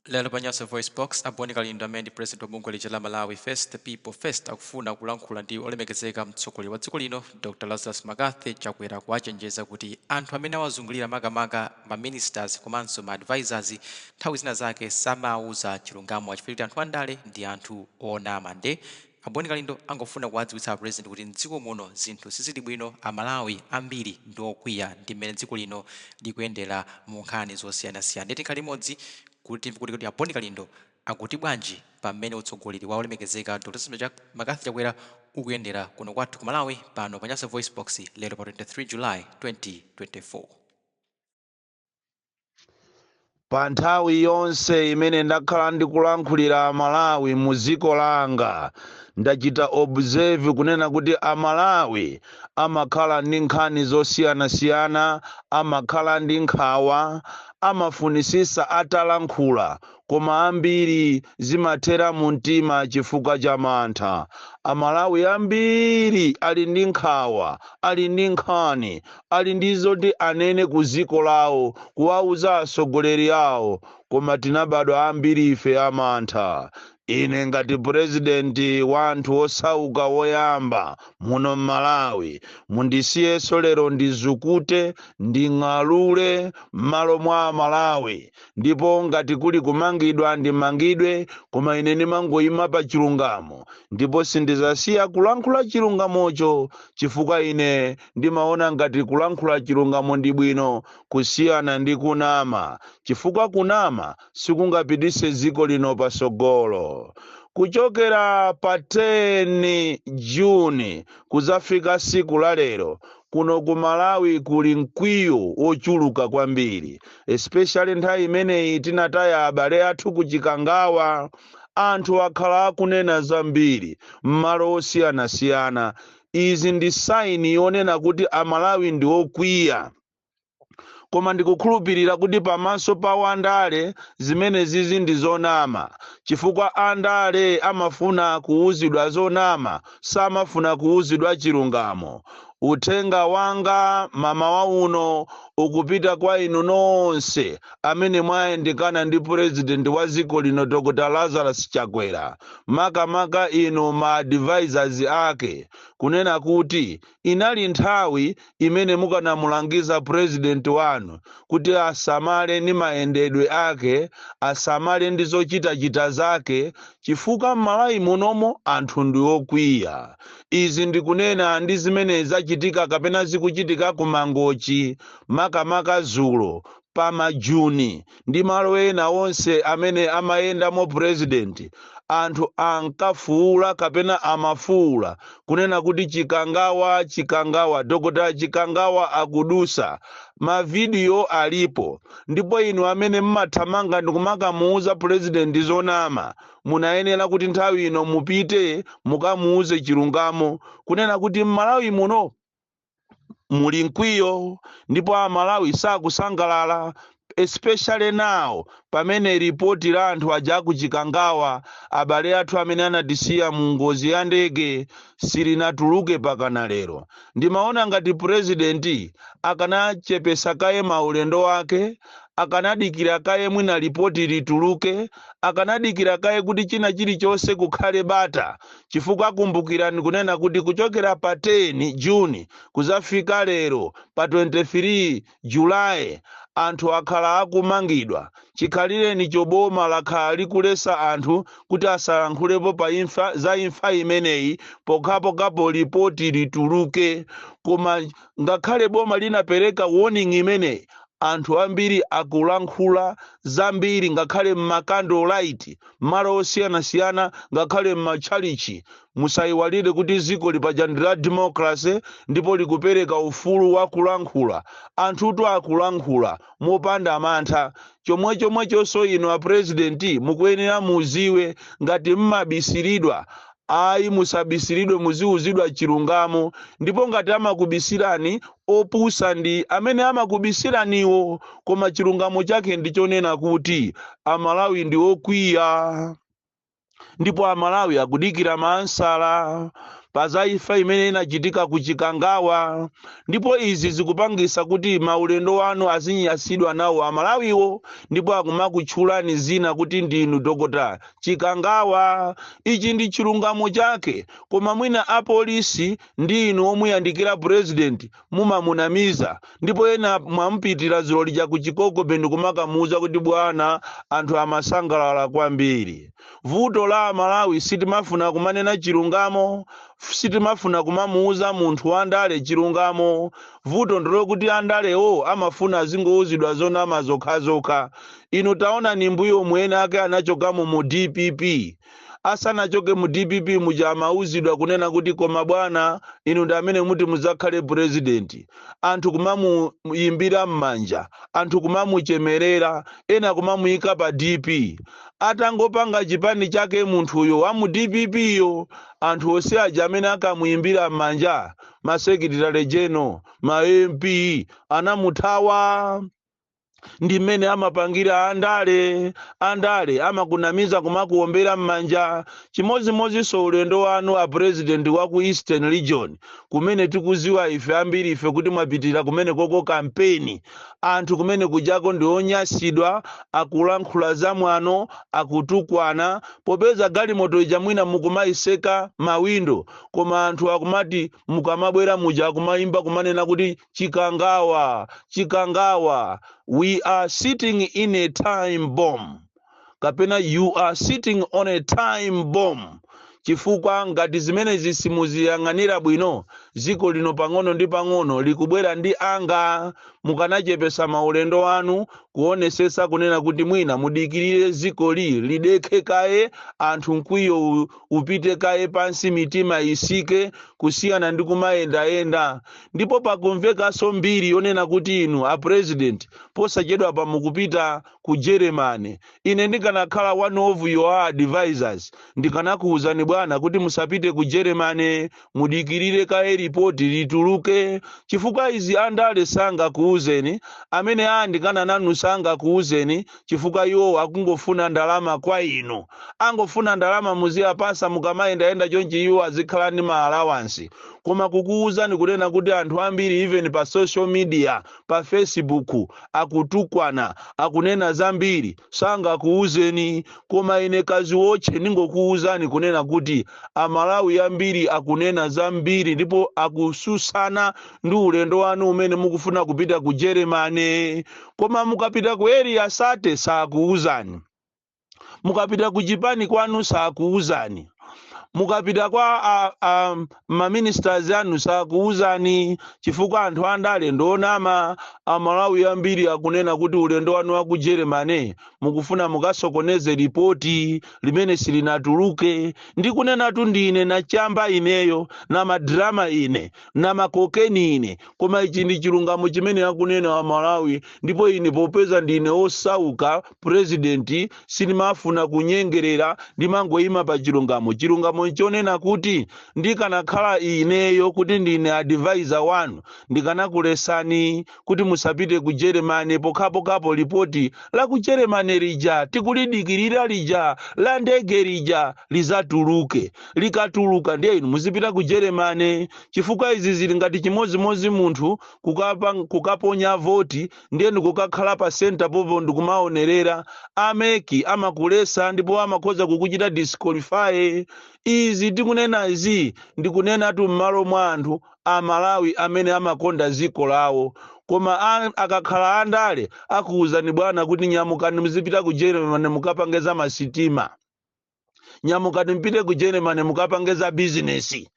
Lero pa Nyasa VoiceBox, a Bon Kalindo amene ndi president wa bungwe lija la Malawi First The People First akufuna kulankhula ndi olemekezeka mtsogoleri wa dziko lino Dr Lazarus McCarthy Chakwera kuwachenjeza kuti anthu amene awazungulira makamaka ma ministers komanso ma advisors nthawi zina zake samawuza chilungamo chifukwa choti anthu andale ndi anthu onama nde A Bon Kalindo angofuna kuwadziwitsa a President kuti m'dziko muno zinthu sizili bwino, a Malawi ambiri ndi okwiya ndi m'mene dziko lino likuyendera mu nkhani zosiyanasiyana ndiye tikhale limodzi kuti timve kuti kodi a Bon Kalindo akuti bwanji pa m'mene utsogoleri wa olemekezeka Dr Lazarus McCarthy Chakwera ukuyendera kuno kwathu ku Malawi pano pa Nyasa VoiceBox lero pa 23 July 2024. pa nthawi yonse imene ndakhala ndikulankhulira amalawi mu dziko langa ndachita observe kunena kuti amalawi amakhala ndi nkhani zosiyanasiyana amakhala ndi nkhawa amafunisisa atalankhula koma ambiri zimathera mu mtima chifukwa cha mantha amalawi ambiri ali ndi nkhawa ali ndi nkhani ali ndi zoti anene ku dziko lawo kuwauza atsogoleri awo koma tinabadwa ambiri ife amantha ine ngati purezidenti wa anthu osauka woyamba muno m'malawi mundisiyenso lero ndizukute nding'alule m'malo mwa amalawi ndipo ngati kuli kumangidwa ndimangidwe koma ine ndimangoyima pa chilungamo ndipo sindizasiya kulankhula chilungamocho chifukwa ine ndimaona ngati kulankhula chilungamo ndi bwino kusiyana ndi kunama chifukwa kunama sikungapitise dziko lino pasogolo kuchokera pa 10 juni kuzafika siku la lero Kuno ku Malawi kuli mkwiyo wochuluka kwambiri especially nthawi imene tinataya abale athu ku Chikangawa. Anthu akhala akunena zambiri m'malo osiyanasiyana. Izi ndi sign yonena kuti a Malawi ndi okwiya. koma ndikukhulupirira kuti pamaso pa andale zimenezizi ndi zonama chifukwa andale amafuna kuwuzidwa zonama samafuna kuwuzidwa chilungamo uthenga wanga mmawa uno ukupita kwa inu nonse amene mwayandikana ndi purezidenti wa dziko lino dr lazarus chakwera makamaka inu ma advisors ake kunena kuti inali nthawi imene mukanamulangiza president wanu kuti asamale ndi mayendedwe ake, asamale ndi zochitachita zake chifukwa m'Malawi munomu anthu ndi okwiya. Izi ndikunena ndi zimene zachitika kapena zikuchitika ku Mangochi makamaka dzulo pa ma juni ndi malo ena onse amene amayendamo president anthu ankafuula kapena amafuula kunena kuti chikangawa chikangawa dr chikangawa akudusa mavidiyo alipo ndipo inu amene mmathamanga ndikumakamuuza president zonama munayenera kuti nthawi ino mupite mukamuuze chilungamo kunena kuti mmalawi muno muli mkwiyo ndipo amalawi sakusangalala especially now pamene ripoti la anthu aja kuchikangawa abale athu amene anatisiya mu ngozi ya ndege silinatuluke pakana lero ndimaona ngati purezidenti akanachepesa kaye maulendo ake akanadikira kaye mwina ripoti lituluke akanadikira kaye kuti china chilichonse kukhale bata chifukwa kumbukirani kunena kuti kuchokera pa 10 June kuzafika lero pa 23 July anthu akhala akumangidwa chikhalirenicho boma lakhala likulesa anthu kuti asalankhulepo pa imfa za imfa imeneyi pokhapokhapo lipoti lituluke koma ngakhale boma linapereka warning imeneyi anthu ambiri akulankhula zambiri ngakhale m'makandolite mmalo osiyanasiyana ngakhale m'matchalitchi. Musaiwalire kuti dzikoli paja ndi la democracy ndipo likupereka ufulu wa kulankhula. Anthutu akulankhula mopanda mantha. Chomwechomwechonso inu a President mukuyenera muziwe ngati m'mabisiridwa Ayi, musabisiridwe, muziuzidwa chilungamo. Ndipo ngati amakubisirani, opusa ndi amene amakubisiraniwo. Koma chilungamo chake ndi chonena kuti Amalawi ndi okwiya ndipo Amalawi akudikira maansala pa za imfa imene inachitika ku Chikangawa ndipo izi zikupangisa kuti maulendo anu azinyasidwa nawo Amalawiwo ndipo akumakutchulani zina kuti ndinu Dr. Chikangawa. Ichi ndi chilungamo chake koma mwina a police ndi inu omuyandikira president mumamunamiza ndipo ena mwamupitira dzulo lija ku Chikoko Bay ndikumakamuuza kuti bwana anthu amasangalala kwambiri. Vuto la amalawi sitimafuna kumanena chilungamo, sitimafuna kumamuuza munthu wa ndale chilungamo. Vuto ndilokuti andalewo amafuna azingouzidwa zonama zokhazokha. Inu taonani mbuyomu ena ake anachokamo mu dpp. Asanachoke mu dpp muja amauzidwa kunena kuti koma bwana inu ndi amene muti mudzakhale president. Anthu kumamuyimbira mmanja, anthu kumamuchemerera, ena kumamuyika pa DP. Atangopanga chipani chake munthuyo wa mu dpp yo anthu onse aja amene ankamuyimbira mmanja ma secretary general, ma MP anamuthawa. ndi mmene amapangira andale andale amakunamiza kumakuombera m'manja chimodzimodzinso ulendo wanu a president wa ku eastern region kumene tikuziwa ife ambiri ife kuti mwapitira kumene koko kampeni anthu kumene kujako ndi onyasidwa akulankhula zamwano akutukwana popeza galimoto ija mwina mukumayiseka mawindo koma anthu akumati mukamabwera muja akumayimba kumanena kuti chikangawa chikangawa we are sitting in a time bomb kapena you are sitting on a time bomb chifukwa ngati zimenezi simuziyang'anira bwino dziko lino pang'ono ndi pang'ono likubwera ndi anga mukanachepesa maulendo anu kuonesesa kunena kuti mwina mudikirire dzikoli lidekhe kaye anthu mkwiyo upite kaye pansi mitima isike kusiyana ndi kumayendayenda ndipo pakumvekanso mbiri yonena kuti inu a president posachedwapa mukupita ku germany ine ndikanakhala one of your advisors ndikanakuwuzani bwana kuti musapite ku germany mudikirire kaye lipoti lituluke chifukwa izi andale sangakuuzeni amene ayandikana nanu sangakuuzeni chifukwa iwowo akungofuna ndalama kwa inu angofuna ndalama muziapasa mukamayendayenda chonchi iwo azikhala ndi ma allowance koma kukuuzani kunena kuti anthu ambiri even pa social media pa facebook akutukwana akunena zambiri sangakuuzeni koma ine kaziwotche ndingokuuzani kunena kuti amalawi ambiri akunena zambiri ndipo akususana ndi ulendo wanu umene mukufuna kupita ku germany koma mukapita ku Area 30 sakuuzani mukapita ku chipani kwanu sakuuzani mukapita kwa a, a, ma ministers anu sakuuzani chifukwa anthu andale ndi onama amalawi ambiri akunena kuti ulendo wanu wa ku germany mukufuna mukasokoneze lipoti limene silinatuluke ndikunenatu ndine nachamba ineyo namadrama ine namakokeni ine koma ichi ndi chilungamo chimene akunena amalawi ndipo ine popeza ndine osauka president sindimafuna kunyengerera ndimangoyima pa chilungamo chilungamo nchonena kuti ndikanakhala ineyo kuti ndine advisor wanu ndikanakulesani kuti musapite ku jeremane pokhapokhapo lipoti la ku jeremane lija tikulidikirira lija la ndege lija lizatuluke likatuluka ndiye inu muzipita ku jeremane chifukwa izi zili ngati chimodzimodzi munthu kukapa- kukaponya voti ndiye ndikukakhala pa center pompo ndikumaonerera a mec amakuletsa ndipo amakhoza kukuchita disqualify izi tikunena izi ndikunenatu m'malo mwa anthu a malawi amene amakonda dziko lawo koma a- akakhala andale akuwuzani bwana kuti nyamukani muzipita ku germany mukapange za masitima nyamukani mpite ku germany mukapange za bizinesi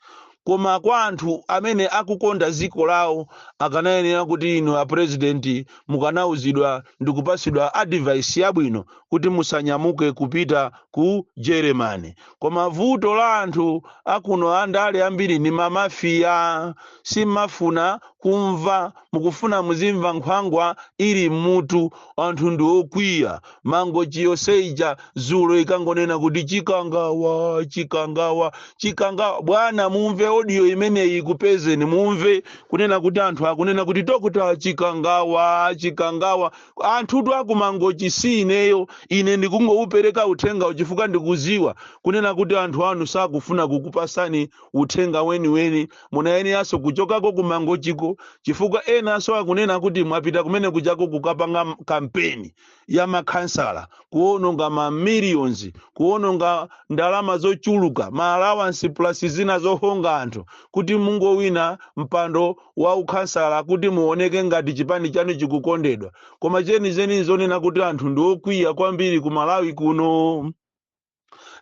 koma kwa anthu amene akukonda dziko lawo akanayenera kuti inu a president mukanauzidwa ndi kupatsidwa advice yabwino kuti musanyamuke kupita ku germany koma vuto la anthu akuno andale ambiri ndi mamafiya simumafuna kumva mukufuna muzimva nkhwangwa ili mmutu anthu ndi okwiya mangochi yonse ija dzulo ikungonena kuti chikangawa chikangawa chikangawa bwana mumve audio imeneyi ikupezeni mumve kunena kuti anthu akunena kuti dokotala chikangawa chikangawa anthutu a ku mangochi si ineyo ine ndikungoupereka uthengawu chifukwa ndikudziwa kunena kuti anthu anu sakufuna kukupatsani uthenga weniweni munayeneranso kuchokako ku mangochiko chifukwa enanso akunena kuti mwapita kumene kujako kukapanga m- kampeni ya makhansala kuononga ma millions kuononga ndalama zochuluka ma allowance plus zina zohonga anthu kuti mungowina mpando wa ukhansala kuti muoneke ngati chipani chanu chikukondedwa koma zenizeni ndi zonena kuti anthu ndi okwiya kwambiri ku malawi kuno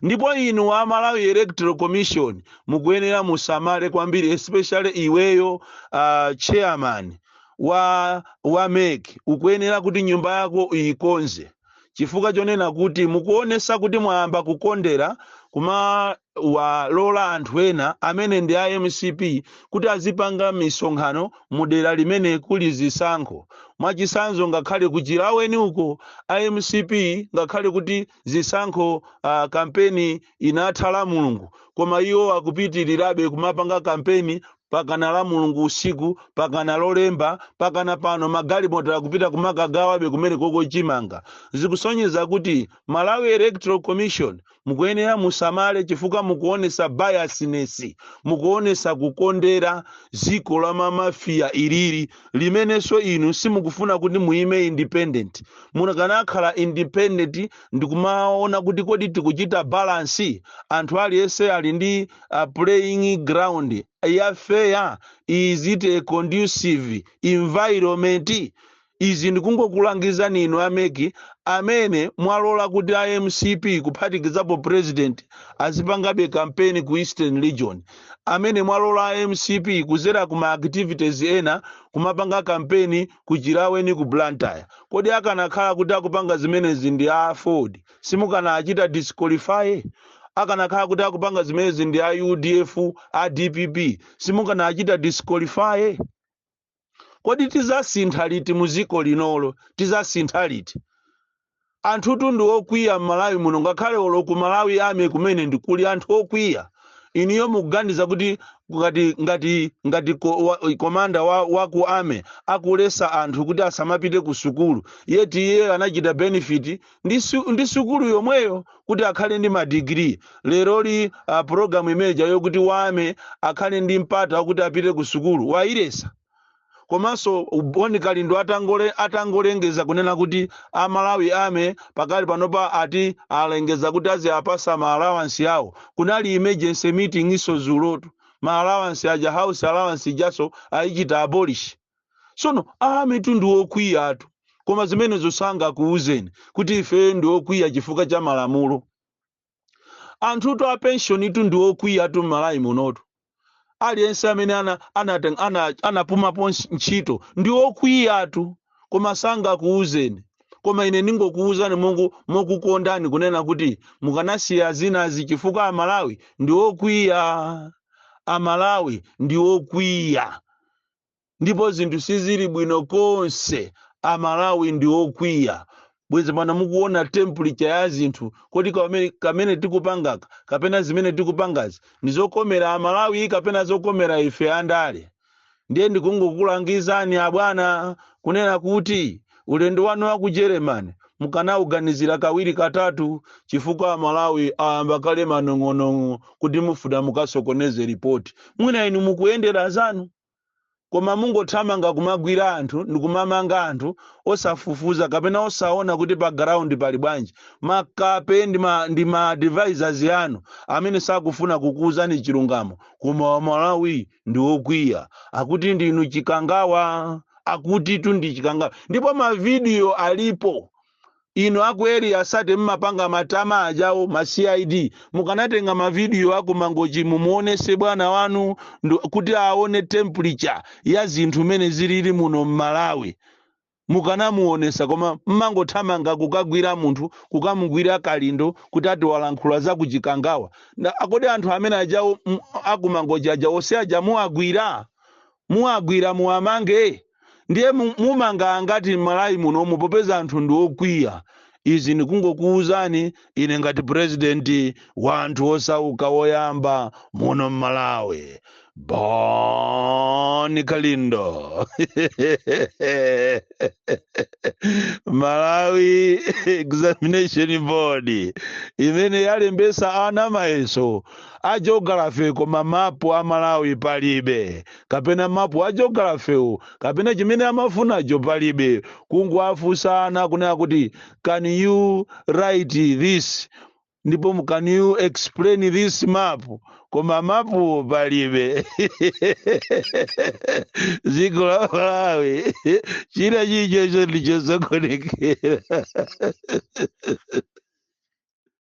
ndipo inu a malawi electoral commission mukuyenera musamale kwambiri especially iweyo uh, chairman wa wa mec ukuyenera kuti nyumba yako uyikonze chifukwa chonena kuti mukuonesa kuti mwayamba kukondera kumawalola anthu ena amene ndi a mcp kuti azipanga misonkhano mu dera limene kuli zisankho mwachisanzo ngakhale ku chilaweni uko a mcp ngakhale kuti zisankho uh, kampeni inatha lamulungu koma iwo akupitirirabe kumapanga kampeni mpakana lamulungu usiku mpakana lolemba mpakana pano magalimoto akupita kumakagawabe kumenekoko chimanga zikusonyeza kuti malawi electoral commission mukuyenera musamale chifukwa mukuonesa biasness mukuonesa kukondera dziko la mamafiya ilili limenenso inu simukufuna kuti muime independent munakakhala independent ndikumaona kuti kodi tikuchita balance anthu aliyense ali ndi uh, playing ground ya fair is it a conducive environment izi ndikungokulangizani inu a mec amene mwalola kuti a mcp kuphatikizapo president azipangabe kampeni ku eastern region amene mwalola a mcp kudzera ku ma activities ena kumapanga kampeni ku Chilaweni ku Blantyre. Kodi akanakhala kuti akupanga zimenezi ndi a Aford simukanawachita disqualify? Akanakhala kuti akupanga zimenezi ndi a udf, a dpp simukanawachita disqualify? Kodi tizasintha liti muziko linolo? Tizasintha liti? Anthutu ndi okwiya mmalawi muno ngakhale olo ku Malawi Army kumene ndikuli anthu okwiya inuyo mukuganiza kuti ngati ngati ngati ko, wa, komanda wa, wa ku army akulesa anthu kuti asamapite ku sukulu yeti iye anachita benefit ndi, su, ndi sukulu yomweyo kuti akhale ndi madigiri leroli uh, programu imeja yokuti wa army akhale ndi mpata wakuti apite ku sukulu wayiletsa komanso Bon Kalindo atangole atangolengeza kunena kuti a Malawi Army pakali panopa ati alengeza kuti aziapasa ma allowance yawo kunali emergency meetingiso zulotu ma allowance aja house allowance ijaso ayichita abolish sono a armytu ndi okwiyatu koma zimenezo sangakuuzeni kuti ifeyo ndi okwiya chifukwa cha malamulo anthutu a pensionitu ndi okwiyatu m'malawi munotu aliyense amene ana- anateng- ana- anapumapo ntch- ntchito ndi okwiyatu koma sangakuwuzeni koma ine ndingokuwuzani mongu- mokukondani kunena kuti mukanasiya zinazi chifukwa amalawi ndi okwiya amalawi ndi okwiya ndipo zinthu sizili bwino konse amalawi ndi okwiya bwezi pano mukuona temperature ya zinthu kodi kamene, kamene tikupangaka kapena zimene tikupangazi ndi zokomera amalawi kapena zokomera ife andale ndiye ndikungokulangizani abwana kunena kuti ulendo wanu wa ku germany mukanauganizira kawiri katatu chifukwa amalawi ayamba kale manong'onong'o kuti mufuna mukasokoneze ripoti mwina inu mukuyendera zanu koma mungothamanga kumagwira anthu ndikumamanga anthu osafufuza kapena osaona kuti pa ground pali bwanji makape ndi ma, ndi ma advisors anu amene sakufuna kukuuzani chilungamo koma amalawi ndi okwiya akuti ndinu chikangawa akutitu ndi chikangawa ndipo mavidiyo alipo Inu aku Area 30 mmapanga matama ajawo ma cid mukanatenga ma video aku mangochi mumuonese bwana wanu kuti aone temperature ya zinthu mene zilili muno mmalawi mukanamuonesa koma mmangothamanga kukagwira munthu kukamugwira kalindo kuti ati walankhula za ku chikangawa a kodi anthu amene ajawo aku Mangochi aja onse aja muwagwira Muwagwira muwamange? Ndiye mumanga angati mmalawi munomu popeza anthu ndi okwiya? Izi ndikungokuuzani ine ngati president wa anthu osauka woyamba muno mmalawi. Bon Kalindo. Malawi examination board imene yalembesa ana mayeso a geography koma mapu a Malawi palibe kapena mapu a geography'wo kapena chimene amafunacho palibe kungowafunsa ana kunena kuti can you write this ndipo can you explain this map koma mapuwo palibe dziko la Malawi china chilichonse ndichosokonekera